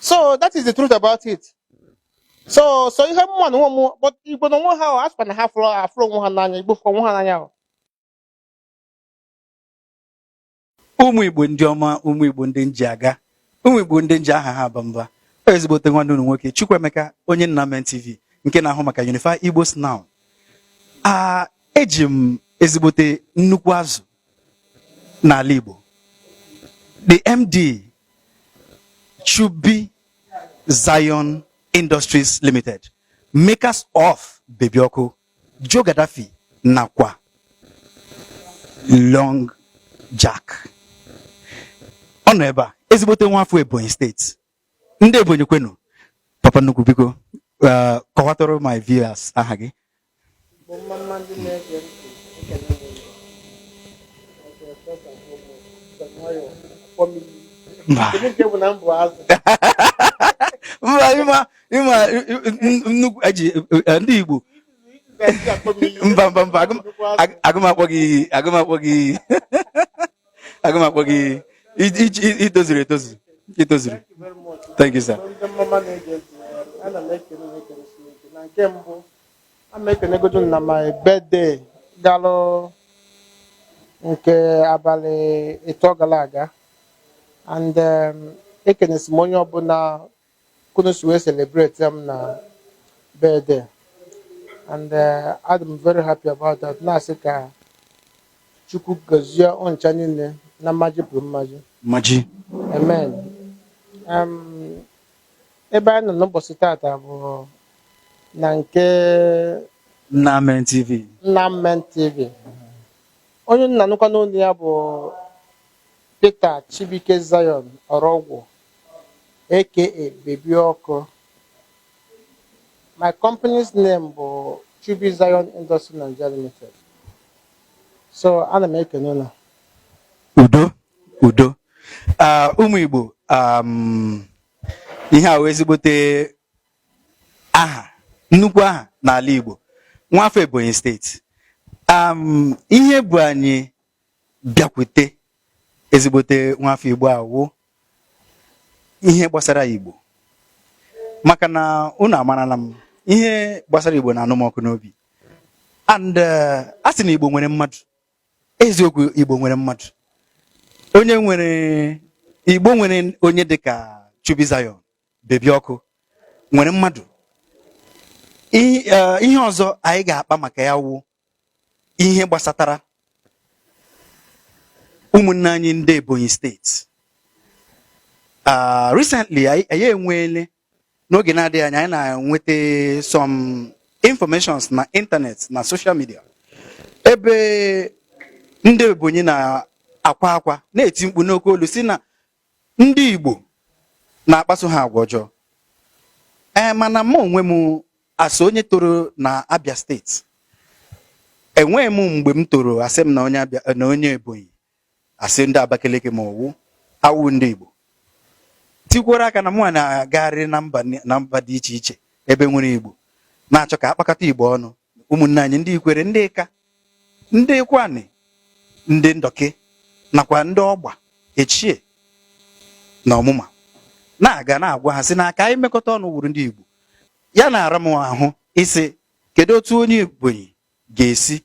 so that is the truth about it so so ihe m ma na onwe m bụ igbo na onwe ha ahụ asịkwa na ha fụrụ afụrụ onwe ha n'anya igbo fụrụ onwe ha n'anya ahụ ụmụ igbo ndị ọma ụmụ igbo ndị m ji aga ụmụ igbo ndị m ji aha ha aba mba ezigbote nwanne unu nwoke Chukwuemeka onye nna men TV nke na-ahụ maka Unify Igbo's Now a eji m ezigbote nnukwu azụ n'ala Igbo the MD Chubi Zion Industries Limited makers of Baby Ọkụ Joe Gaddafi nakwa Long Jack ọ nọ ebe a ezigbote nwa afọ Ebonyi steeti ndị ebonyi kwenu papa nnukwu biko uh, kọwatụrụ my viewers aha gị mba ịma nnukwu eji eh, ndị igbo mba mba mba aga m akpọ gị aga m akpọ gị aga m akpọ gị itozuru etozu itozuru thank you sir ana m ekele na ekele Chineke na nke mbụ a m ekene God na my birthday galụ nke abalị ịtọ gala aga and um, ekenesi m onye ọbụla ka unu si wee celebrate ya m na birthday and eh, adị m very happy about that na-asị ka Chukwu gọzie unu ncha niile na mmaji kwuru mmaji Mmaji. amen Em, ebe anyị nọ n'ụbọchị tata bụ na nke Nna Men TV. Nna Men TV onye unu na-anụkwanụ olu ya bụ Peter Chibuike Zion Ọrọgwụ aka Baby Ọkụ. My company's name bụ Chubi Zion Industry Nigeria Limited. So ana m ekene unu. Udo udo ah, ụmụ Igbo um, ihe a wụ ezigbote aha nnukwu aha n'ala Igbo nwafọ Ebonyi steeti um, ihe bu anyị bịakwute ezigbote nwafọ Igbo a wụ ihe gbasara Igbo maka na unu amarala m ihe gbasara Igbo na-anụ m ọkụ n'obi and eh, a sị na Igbo nwere mmadụ eziokwu Igbo nwere mmadụ onye nwere Igbo nwere onye dịka Chubi Zion Baby Ọkụ nwere mmadụ Eh, ihe ọzọ anyị ga-akpa maka ya wụ ihe gbasatara ụmụnne anyị ndị Ebonyi steeti ah, recently anyị enweele n'oge na-adịghị anya anyị na-enweta some informations na internet na social media ebe ndị Ebonyi na-akwa akwa na-eti mkpu n'oke olu sị na ndị Igbo na-akpaso ha agwa ọjọọ ee mana m onwe m as onye toro na Abia steeti enweghị m mgbe m toro asị m na onye Ebonyi a sị ndị Abakaliki ma ọ wụ awụ ndị Igbo tikwara aka na mụ na-agagharị na mba dị iche iche ebe e nwere Igbo na-achọ ka a kpakọta Igbo ọnụ ụmụnne anyị ndị Ikwere ndị Ịka ndị Ụkwụanị ndị Ndọkị nakwa ndị Ọgba Echie na Ọmụma na-aga na-agwa ha sị na ka anyị mekọta ọnụ wụrụ ndị Igbo ya na-ara m ahụ ịsị kedu otu onye Ebonyi ga-esi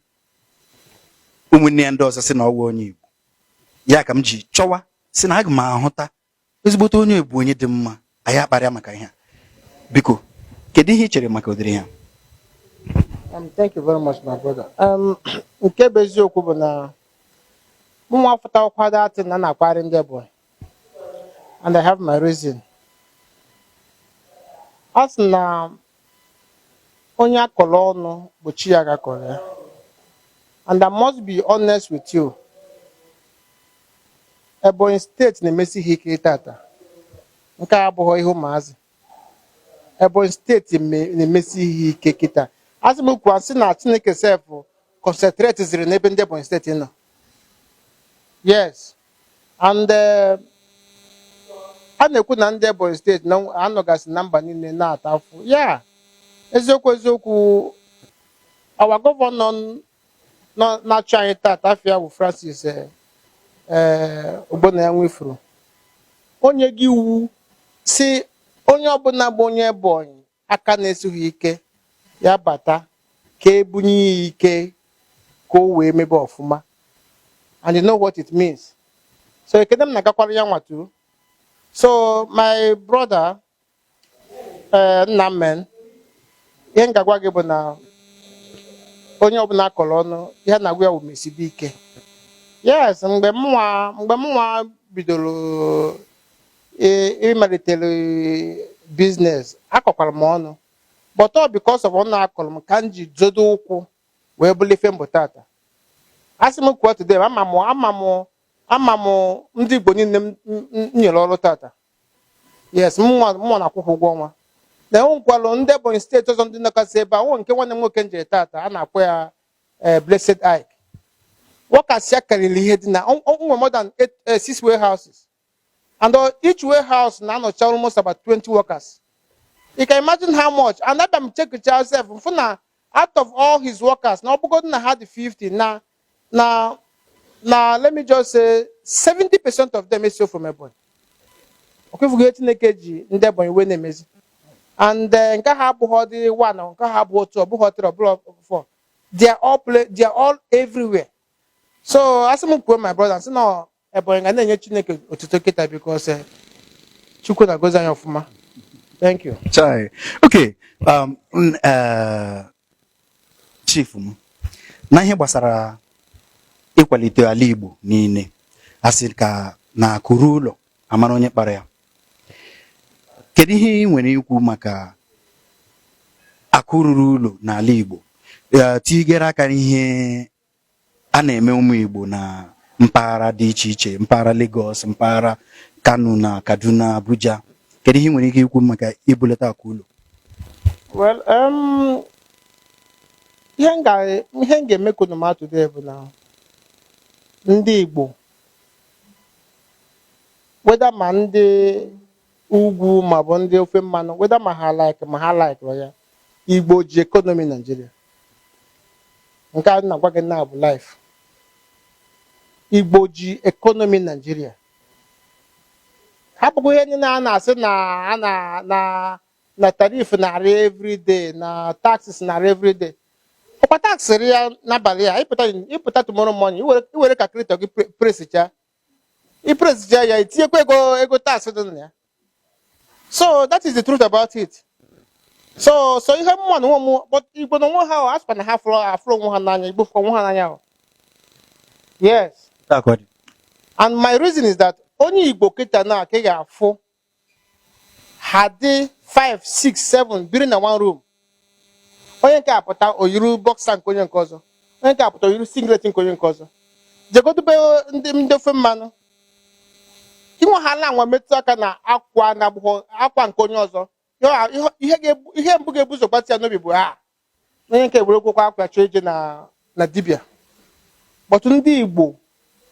ụmụnne ya ndị ọzọ sị na ọ wụghị onye Igbo ya ka m ji chọwa sị na aga m ahụta ezigbote onye Ebonyi dị mma anyị akparịa maka ihe a biko kedu ihe ị chere maka ụdịrị ihe a um, thank you very much my brother um, nke bụ eziokwu bụ na mụnwa fụta ụkwado atị na na-akparị ndị Ebonyi and I have my reason a sị na Onye a kọrọ ọnụ bụ chi ya ka a kọrọ ya. And I must be honest with you. Ebonyi steeti na-emesi ihe ike tata. Nke a abụghị ihe ụmụazị. Ebonyi steeti na-emesi ihe ike kịta. A sị m kwuo sị na Chineke sef concentrateziri n'ebe ndị Ebonyi steeti nọ. Yes. and eh, a na-ekwu na ndị Ebonyi steeti na-anọgasị na mba niile na-ata afụfụ ya eziokwu eziokwu our governor nọ na-achị anyị taata afa ya bụ Francis eh, eh, Ogbonnaya Nwifuru o nyego iwu sị onye ọbụla bụ onye Ebonyi aka na-esighị ike ya bata ka e bunye ya ike ka o wee mebe ọfụma and you know what it means so ekene m na-agakwara ya nwatụ so my brother eh, nna men ihe m ga-agwa gị bụ na onye ọbụla a kọrọ ọnụ ihe a na-agwa ya wụ mesibe ike yes mgbe mụnwa mgbe mụnwa bidoro ee ịmalitere business a kọkwara m ọnụ but all because of ọnụ a kọrọ m ka m ji zọdo ụkwụ wee bụrụ ife m bụ tata asị m kwuo today ama m ama m ama m ndị igbo niile m m- m nyere ọrụ tata yes mụnwa mụnwa na-akwụkwa ụgwọ ọnwa na enwekwalụ ndị ebonyi state ọzọ ndị nọkasị ebe a nwe nke nwanne m nwoke m jere tata a na-akpọ ya eh, blessed ike workers ya karịrị ihe dị na o- o- o nwere more than eight- eh, six warehouses And uh, each warehouse na-anọcha almost about 20 workers. You can imagine how much. And abịa m check myself m fụ na out of all his workers na ọ bụgodu na ha dị 50 na na na let me just say 70 percent of them esi from Ebonyi. Ọkwa ị fụgo ihe Chineke ji ndị Ebonyi wee na-emezi. And uh, nke ha abụghọdị one nke ha abụghọ two ọ bụghọ three ọ bụghọ four. They are all play, they are all everywhere. So asị m kwuo my brother sị na Ebonyi ga na-enye Chineke otuto kịta because eh, Chukwu na-agọzi anyị ọfụma. Thank you. Chai. Okay. Um, n- eh, chief m na ihe gbasara ịkwalite ala Igbo niile a sịkwa na akụ ruo ụlọ a mara onye kpara ya kedu ihe ị nwere ikwu maka akụ ruru ụlọ n'ala Igbo Eh, tigere aka n'ihe a na-eme ụmụ Igbo na mpaghara dị iche iche mpaghara Lagos mpaghara Kano na Kaduna Abuja kedu ihe ị nwere ike ikwu maka ibulata akụ ụlọ well um, ihe m ga-eme ka unu ma today bụ na ndị Igbo whether ma ndị Ugwu ma ọ bụ ndị ofe mmanụ whether ma ha like ma ha likerọ ya Igbo ji economy Naijiria nke a na-agwa gị na bụ life Igbo ji economy Naijiria hapụkwa ihe niile a na-asị na a na na na tariff na-arị everyday na taxes na-arị everyday ọkwa tax rịa n'abalị a ị pụta ị pụta tomorrow morning i were i were calculator gị pre- presicha i presicha ya i tinyekwa ego ego tax dị na ya so that is the truth about it so so ihe m ma na onwe m but igbo na onwe ha ọ a sịkwa na ha afụrọ afụrọ onwe ha n'anya igbo fụkwa onwe ha n'anya ọ yes and my reason is that onye igbo kịta na ka ị ga-afụ ha dị 5 6 7 biri na one room onye nke a pụta o yiri boxer nke onye nke ọzọ onye nke a pụta o yiri singlet nke onye nke ọzọ jegodu be ndị ndị ofe mmanụ ị nwahala anwa metụ aka na akwa na-abụghọ akwa nke onye ọzọ ihe ga-ebu ihe mbụ ga-ebu ụzọ gbata ya n'obi bụ ha onye nke were gwụkwa akwa chọọ ije na na dibịa but ndị igbo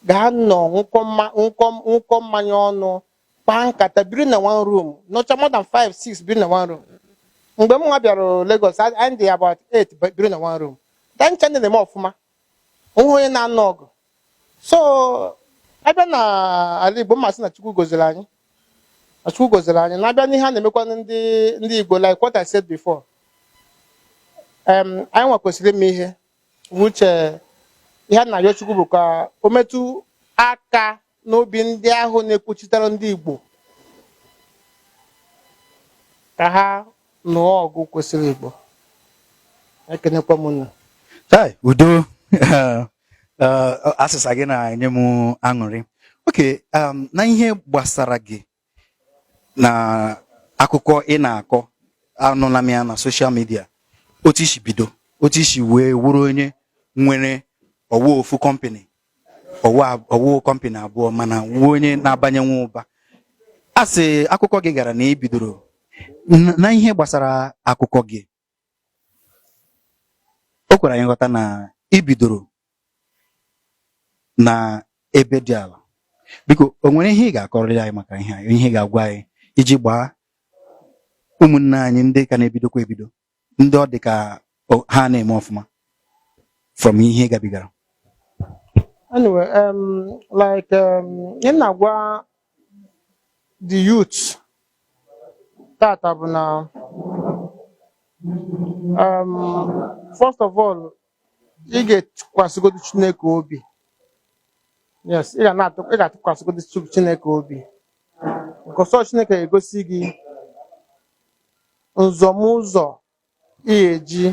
ga-anọ nwụkọ mma- nwụkọ nwụkọ mmanya ọnụ kpaa nkata biri na one room nọcha more than 5 6 biri na one room mgbe m nwa bịara Lagos a- anyị dị about 8 ba- biri na one room ha ncha ndị na-eme ọfụma o nweghị onye na-anụ ọgụ so a bịa na ala Igbo m ma sị na Chukwu goziri anyị na Chukwu goziri anyị na a bịa n'ihe a na-emekwa ndị ndị Igbo like what I said before anyị nwa kwesịrị ime ihe uche ihe a na-ayọ Chukwu bụ ka o metụ aka n'obi ndị ahụ na-ekwuchitere ndị Igbo ka ha nụọ ọgụ kwesịrị Igbo ekenekwa m unu udo azịza gị na-enye m aṅụrị okay um, na ihe gbasara gị na akụkọ ị na-akọ anụla m ya na social media otu i si bido otu i si wee wụrụ onye nwere ọ wụ ofu company ọ wụ company abụọ mana wụ onye na-abanye nwa ụba a sị akụkọ gị gara na i bidoro na ihe gbasara akụkọ gị o kwere anyị nghọta na i bidoro na ebe dị ala biko o nwere ihe ị ga-akọrịrị anyị maka ihe anyị ihe ị ga-agwa anyị iji gbaa ụmụnne anyị ndị ka na-ebidokwa ebido ndị ọ dị ka ha na-eme ọfụma from ihe gabigara anyway um, like um, ihe m na-agwa the youth tata bụ na um, first of all ị ga-atụkwasịgodo Chineke obi yes ị ga na-atụ ị ga-atụkwasịgodo Chu- Chineke obi because ọ sọ Chineke ga-egosi gị nzọmụzọ ị ga-eji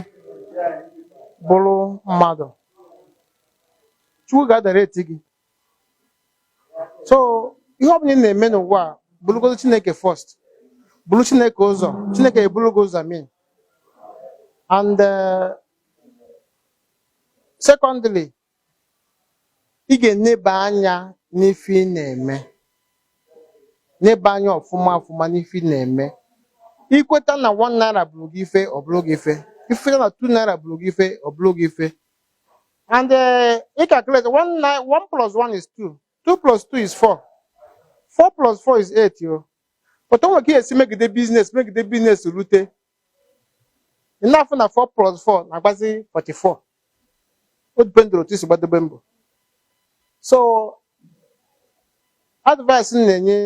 bụrụ mmadụ chukwu ga-adirect gị so ihe ọ bụla ị na-eme n'ụwa a burugodo chineke first buru chineke ụzọ chineke eburu gị ụzọ I mean and eh, secondly ị ga-eneba anya n'ife ị na-eme neba anya ọfụma ọfụma n'ife ị na-eme i kweta na one naira bụrụ gị ife ọ bụrụ gị ife i kweta na two naira bụrụ gị ife ọ bụrụ gị ife and eh, ị calculate one nai- one plus one is two 2 plus 2 is 4 4 plus 4 is 8 o but o nwere ka ị ya-esi megide business megide business rute ị na-afụ na 4 plus 4 na-agbazi 44 ọ dependụrụ otu i si gbadobe mbọ so advice m na-enye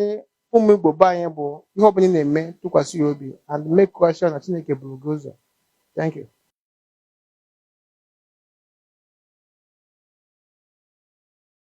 ụmụ igbo be anyị bụ ihe ọbụla ị na-eme tụkwasị ya obi and makekwa sure na chineke buru gị ụzọ thank you